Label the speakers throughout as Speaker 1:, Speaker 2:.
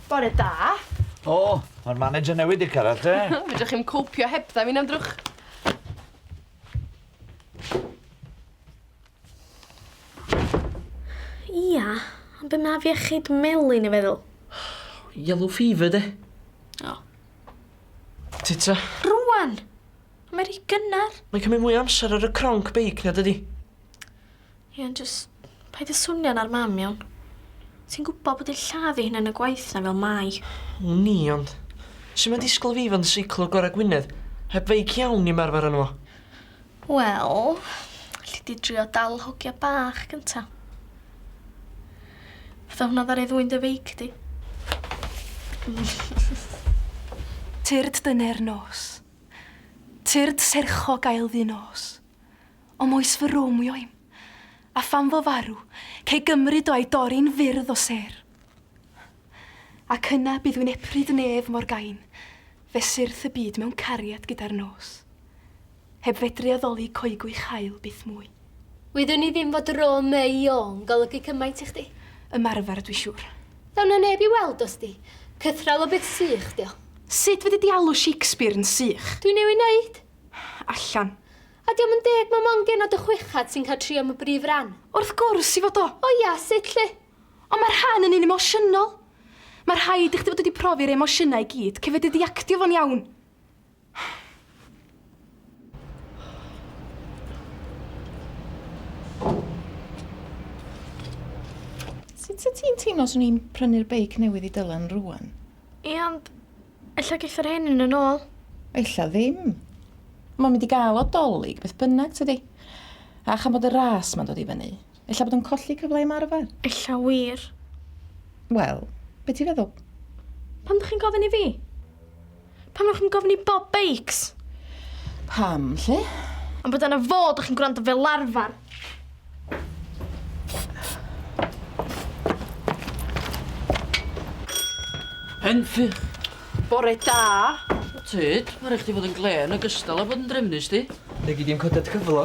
Speaker 1: Bore da. O,
Speaker 2: mae'r manager newydd di cyrraedd te. Fedrwch chi'm copio
Speaker 1: heb dda fi'n amdrwch.
Speaker 3: Ia, ond be mae fiechyd melin i feddwl? Yellow
Speaker 4: fever, de. O. Tita. Rwan!
Speaker 3: Mae rhy gynnar. Mae'n cymryd mwy o amser ar
Speaker 4: y cronc beic na dydi?
Speaker 3: Ie, ond jyst paid â swnio'n ar mam, iawn? Ti'n gwybod bod yn lladd ei hunan y gwaith na fel mai. Wn i, ond
Speaker 4: sut mae disgwyl fi fod yn seiclo gorau Gwynedd heb feic iawn i ymarfer arno fo? Wel,
Speaker 3: alli di drio dal y hogia bach gynta. Fydda hwnna ddaru ddwyn dy feic di.
Speaker 5: Tyrd dyner nos. Tyrd sercho gael ddi nos. O moes fy rwm wi oim. A phan fo farw, cei gymryd o a'i dori'n fyrdd o sêr. Ac yna bydd wi'n epryd nef mor gain, fe syrth y byd mewn cariad gyda'r nos. Heb fedru addoli coegwich haul byth mwy. Wyddwn i ddim
Speaker 6: fod Rome y Iô'n golygu cymaint i chdi. Ymarfer, dwi siŵr.
Speaker 5: Ddaw 'na neb i
Speaker 6: weld o sdi. Cythral o beth sych 'di o. Sut fedri di alw
Speaker 5: Shakespeare yn sych? Dwi'n newid neud.
Speaker 6: Allan.
Speaker 5: A 'di o'm yn
Speaker 6: deg ma' mond genod y chweched sy'n cael trio am y brif ran. Wrth gwrs i fod o!
Speaker 5: O ia, sut 'lly?
Speaker 6: Ond ma'r rhan
Speaker 5: yn un emosiynol. Ma' rhaid i chdi fod wedi profi'r emosiynau i gyd cyn fedru di actio fo'n iawn.
Speaker 7: Sut wyt ti'n teimlo swn i'n prynu'r beic newydd i Dylan rwan? Ie, ond
Speaker 3: ella geith yr hen un yn ôl. Ella ddim.
Speaker 7: Mae'n mynd i gael o dolyg beth bynnag, tydi? A chan bod y ras ma'n dod i fyny, Ella bod o'n colli cyfle i ymarfer? Ella wir.
Speaker 3: Wel,
Speaker 7: be ti'n feddwl? Pam ddech chi'n
Speaker 3: gofyn i fi? Pam ddech chi'n gofyn i Bob Bakes? Pam,
Speaker 7: lle? Am bod yna fo,
Speaker 3: ddech chi'n gwrando fel arfer.
Speaker 4: Henffy! Bore
Speaker 1: da! Tyd,
Speaker 4: mae rhaid chdi fod yn glen o gystal a bod yn drefnus di. Fe gyd i'n coded
Speaker 8: cyflo.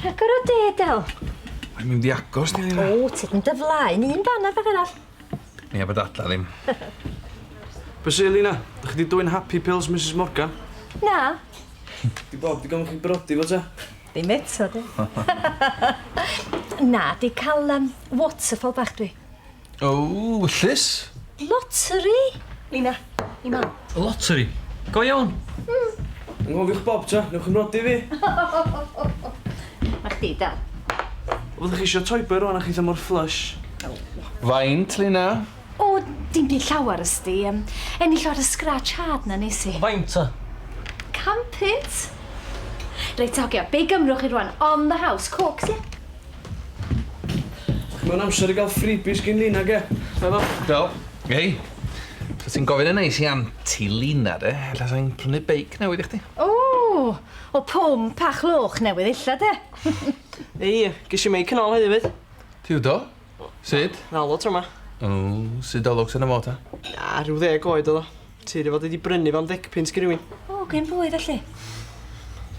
Speaker 9: Rhagor o de, Del. Mae'n mynd i
Speaker 8: agos, ni ddim. O, ti'n mynd y flaen,
Speaker 9: un fan a fan arall. Ni a bod
Speaker 8: adla ddim.
Speaker 10: Be sy'n Lina? Ydych chi wedi dwy'n happy pills, Mrs Morgan? Na.
Speaker 9: Di
Speaker 10: Bob, di gofyn chi brodi fo ta? Ddim eto, di.
Speaker 9: Na, di cael um, waterfall bach dwi. O,
Speaker 8: wyllus.
Speaker 9: Lottery? Lina, i mam. Lottery?
Speaker 4: Go iawn. Mm. Ngofiwch
Speaker 10: bob tro, newch yn nodi fi. Na
Speaker 9: chdi, Del. Fyddwch chi
Speaker 10: eisiau toiber rwan a chi ddim o'r flush? Faint,
Speaker 8: Lina? O,
Speaker 3: dim byd llawer ysdi. Um, ennill o'r scratch hard na nes i. Faint ta?
Speaker 4: Campit.
Speaker 3: Reit, hogia, be gymrwch chi rwan? On the house, cocs, ie? Yeah?
Speaker 10: Mae'n amser i gael freebies gin Lina, ge? Meddwl? Do. Hei.
Speaker 8: Os ti'n gofyn yn neis i Aunty Lina de, ella sa i'n prynu beic newydd i chdi. O! O
Speaker 9: pump a chlwch newydd ella de? Hei,
Speaker 4: ges i meic yn ôl heddiw 'fyd. Ti 'fyd do?
Speaker 8: Sud? Nalo tro 'ma.
Speaker 4: O, sud
Speaker 8: o lwcs arno fo ta? Na, rhyw ddeg
Speaker 4: oed oedd o. Ti dy fod wedi brynu fo'n ddegpunt gen rywun? O, gen pwy felly?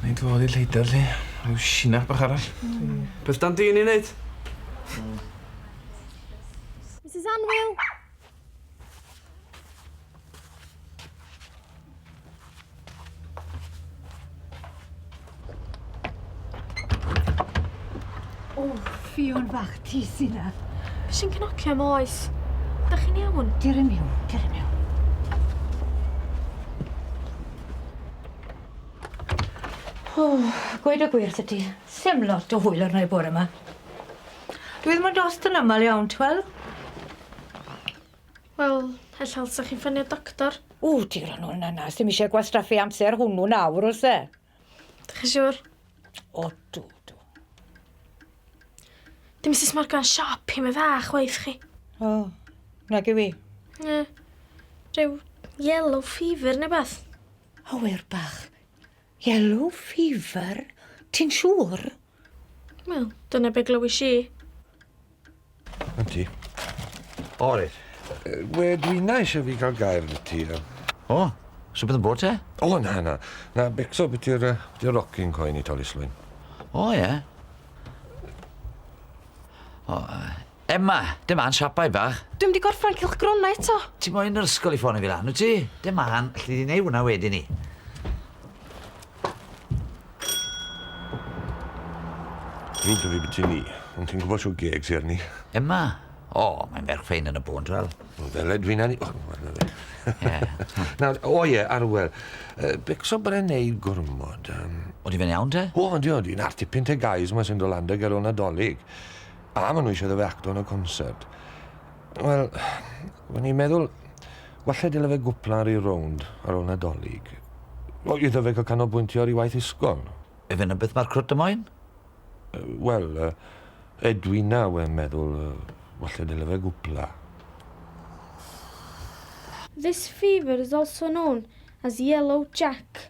Speaker 9: Neu
Speaker 8: dy fod i lleidr lli, rhyw sinach bach arall. Mm. Beth dan di'n
Speaker 10: ei wneud? Mm.
Speaker 6: Mrs Anwyl!
Speaker 9: O, ffion fach ti sy na. Be sy'n cnocio
Speaker 3: am oes? Da chi'n iawn? Ger i miwn, ger i
Speaker 9: miwn. O, gweud y gwir wrth ti. Sem lot o hwyl arno i bore yma. Dwi ddim yn dost yn aml iawn, ti wel?
Speaker 3: Wel, ella ddylsa chi ffonio doctor. O, ti rhan o'n
Speaker 9: yna. Sdim eisiau gwastraffu amser hwnnw nawr, os e? Dych chi siwr?
Speaker 3: O, dw,
Speaker 9: dw.
Speaker 3: Dim Mrs Morgan siop i mi dda, chwaith chi. O,
Speaker 9: nag yw i. Ie.
Speaker 3: Rhyw yellow fever neu beth. Awyr
Speaker 9: bach. Yellow fever? Ti'n siŵr? Wel,
Speaker 3: dyna be glywys i. Ynti.
Speaker 11: O, reit.
Speaker 2: We,
Speaker 11: dwi'n na eisiau fi gael gair yn y ti. O,
Speaker 2: so bydd yn bod te? O, na, na.
Speaker 11: Na, becso beth i'r uh, rocking coen i tolislwyn. O, ie. Yeah.
Speaker 2: O, uh, Emma, dim a'n siapai bach. Dwi'm di gorffan cylchgrona
Speaker 5: eto. Ti moyn yr ysgol i
Speaker 2: ffonio fi lan wyt ti? Dim a'n, alli di neu hwnna wedyn ni.
Speaker 11: Drwg da fi beth ti'n ni, ond ti'n gwybod siw geg ti arni? Emma?
Speaker 2: O, oh, mae'n ferch ffein yn y bôn, drwel. O, ddele dwi'n anni... O,
Speaker 11: oh, arno fe. Nawr, o ie, arwel, uh, becso bren neu gormod. Um... O, di fe'n iawn
Speaker 2: te? O, di o, di'n artipyn
Speaker 11: te gais mae sy'n dolanda ger o nadolig. A ma' nhw eisiau iddo fe acto yn y concert. Wel, o'n i'n meddwl, walle dyle fe gwpla ar ei rownd ar ôl Nadolig. O, iddo fe cael canolbwyntio ar ei waith ysgol. Yw hynna beth mae'r
Speaker 2: crwt y moyn?
Speaker 11: Wel, Edwina, wen meddwl, walle dyle fe gwpla.
Speaker 3: This fever is also known as yellow jack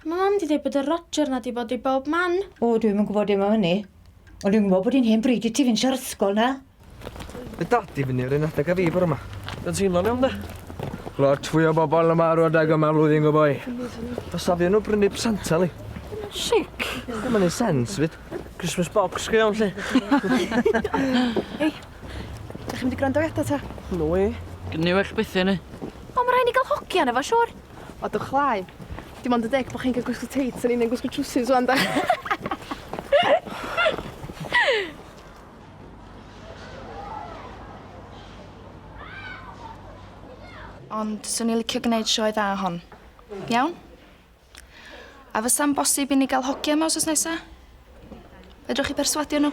Speaker 3: A mae mam di dweud bod y Roger na di bod i bob man. O, dwi'm yn gwybod dim
Speaker 9: am hynny. Ond dwi'n gwybod bod hi'n hen bryd i ti fynd sio'r ysgol na. Mae dad
Speaker 4: di fyny yr un adeg a fi bore ma. Dwi'n teimlo'n iawn de. Lot fwy o bobl yma ar adeg yma flwyddyn go boi. Dos a fi nhw brynu presantau li. Sic.
Speaker 3: Ddim yn ei
Speaker 4: sens fyd. Christmas box go iawn lle.
Speaker 5: Ei, da chi'n mynd i gwrando i eto ta? No way.
Speaker 4: Gynnu well bethau
Speaker 12: ni. O, mae rhaid ni gael
Speaker 5: hogian efo siwr. O, dwch lai.
Speaker 1: Dim ond y deg bod chi'n cael gwisgo teits, o'n i'n mynd gwisgo trwsus o'n da.
Speaker 5: Ond swn i'n licio gwneud sioe dda hon. Iawn? A fysa'n bosib i ni gael hogia yma os oes nesaf? Fedrwch chi perswadio nhw?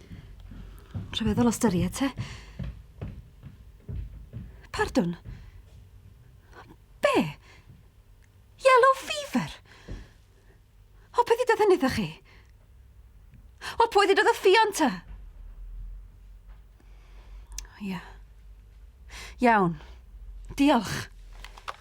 Speaker 13: Rhyfeddol o styried, te. Pardwn? Be? Yellow fever? O, peth i dod hynny chi? O, pwy ddod y ffion ta? Ia. Iawn. Diolch.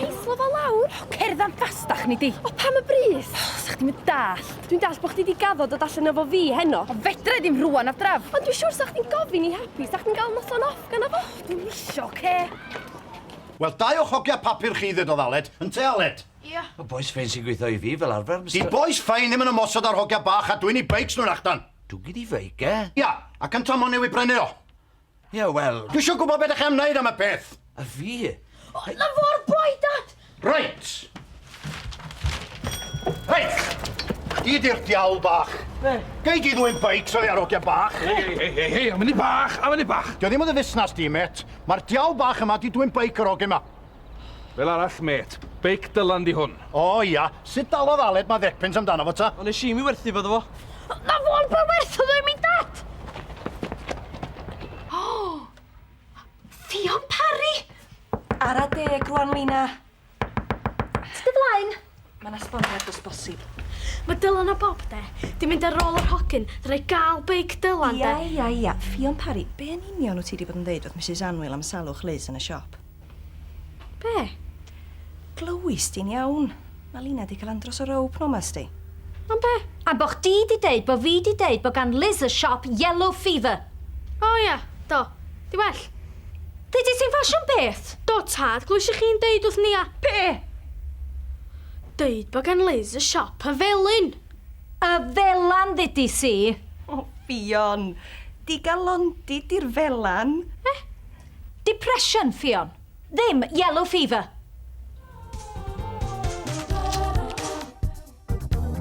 Speaker 1: Heitho fo lawr! O, cerdd am fastach nei di! O, pam y brys? O, sa chdi'm yn dallt. Dwi'n dallt bo' chdi 'di gaddo dod allan efo fi heno. O, fedra i ddim rŵan, Adref! Ond dwi siŵr sa chdi'n gofyn i Happy sa chdi'n ga'l noson off ganddo fo. O, dwi'm isio, oce?
Speaker 14: Wel, dau o'ch hogia papur chi ddedodd Aled, ynte Aled? Ia. Y bois ffein
Speaker 1: sy'n gweithio
Speaker 2: i fi fel arfer, Mister-. 'Di bois ffein ddim yn
Speaker 14: ymosod ar hogia bach a dwyn 'u beics nhw'n allan. Dwgid 'i feic e?
Speaker 2: Ia, ac yntau mo'n
Speaker 14: newydd brenu o. Ie, wel...
Speaker 2: Dwi eisiau gwybod beth ydych chi'n wneud
Speaker 14: am y peth! A fi?
Speaker 2: O, na fo'r
Speaker 6: boi, Dad! Reit! Reit!
Speaker 14: Di di'r diawl bach. Be? Gei di ddwy'n beics oddi ar ogia bach. Hei, hei, hei, hei, hei, am yni
Speaker 8: bach, am yni bach. Dio ddim yn dy fusnas di,
Speaker 14: met. Mae'r diawl bach yma di dwy'n beic yr ogia yma. Fel arall,
Speaker 8: mêt. Beic Dylan 'di hwn. O, ia. Sut
Speaker 14: dalodd Aled ma ddepens amdano fo, ta? O, nes i mi werthu fo iddo
Speaker 4: fo. Na fo am pa
Speaker 1: werth oedd o i mi, Dad! O!
Speaker 5: Ffion Parry! Ara deg rwan, Lina.
Speaker 1: Tyd dy flaen. Mae'n esboniad
Speaker 5: os bosib. Mae Dylan a
Speaker 3: Bob, de, di mynd ar ôl yr hogyn, drai gael beic Dylan, de. Ia, ia, ia. Ffion
Speaker 5: Parry, be yn union wyt ti di bod yn ddeud wrth Misus Anwyl am salwch Liz yn y siop? Be? Glywis di'n iawn. Mae Lina di cael andros o row p'nawn ma, sdi. Am be?
Speaker 3: Am bo chdi di
Speaker 6: deud bo fi di deud bo gan Liz y siop yellow fever. O ia,
Speaker 3: do. Di well? Deudet ti'n
Speaker 6: ffasiwn beth? Do tad, glwysi
Speaker 3: chi'n deud wrth Nia. Be? Deud bod gan Liz y siop y felin. Y
Speaker 6: felan ddudis i. O
Speaker 5: Ffion! Digalondid di'r
Speaker 6: felan.
Speaker 5: E? Depression,
Speaker 6: Ffion. Ddim
Speaker 5: yellow
Speaker 6: fever!